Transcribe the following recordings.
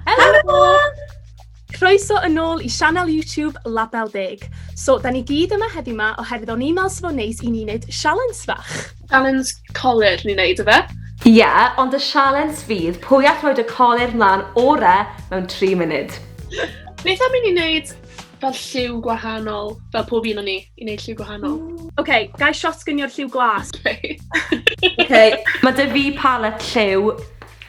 Helo! Croeso yn ôl i sianel YouTube Label Deg. So, da ni gyd yma heddiw yma oherwydd o'n i'n meddwl sef o'n neis i ni wneud sialens fach. Sialens colir ni'n neud, efe? Ie, yeah, ond y sialens fydd pwy all roed y colir mlaen ore mewn 3 munud. Beth am i ni wneud fel lliw gwahanol, fel pob un o'n ni, i wneud lliw gwahanol? Oce, okay, gai shot gynio'r lliw glas? Oce, okay. okay. mae dy fi palet lliw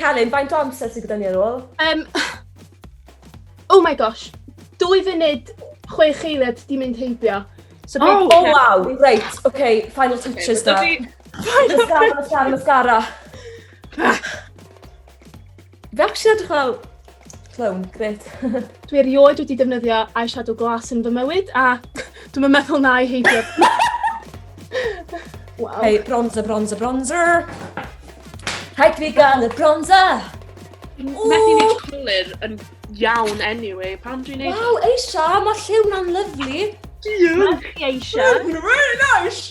Celyn, faint o amser sydd gyda ni ar ôl? Um, oh my gosh, dwy funud chwe cheiliad di mynd heibio. So oh, oh okay. wow, right, okay, final touches okay, da. Final touches. Mascara, mascara, mascara. Fe ac sy'n edrych fel clown, gret. Dwi erioed wedi defnyddio eyeshadow glas yn fy mywyd a dwi'n meddwl na i heidio. wow. Hei, bronzer, bronzer, bronzer. Rhaid fi gael y bronzer. Methu ni colour yn iawn anyway, pam dwi'n neud... Wow, Eisha, mae lliw na'n lyflu. Diolch. Eisha. Really nice.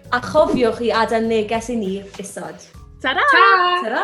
A chofiwch i adael neges i ni isod. Ta-ra! Ta-ra!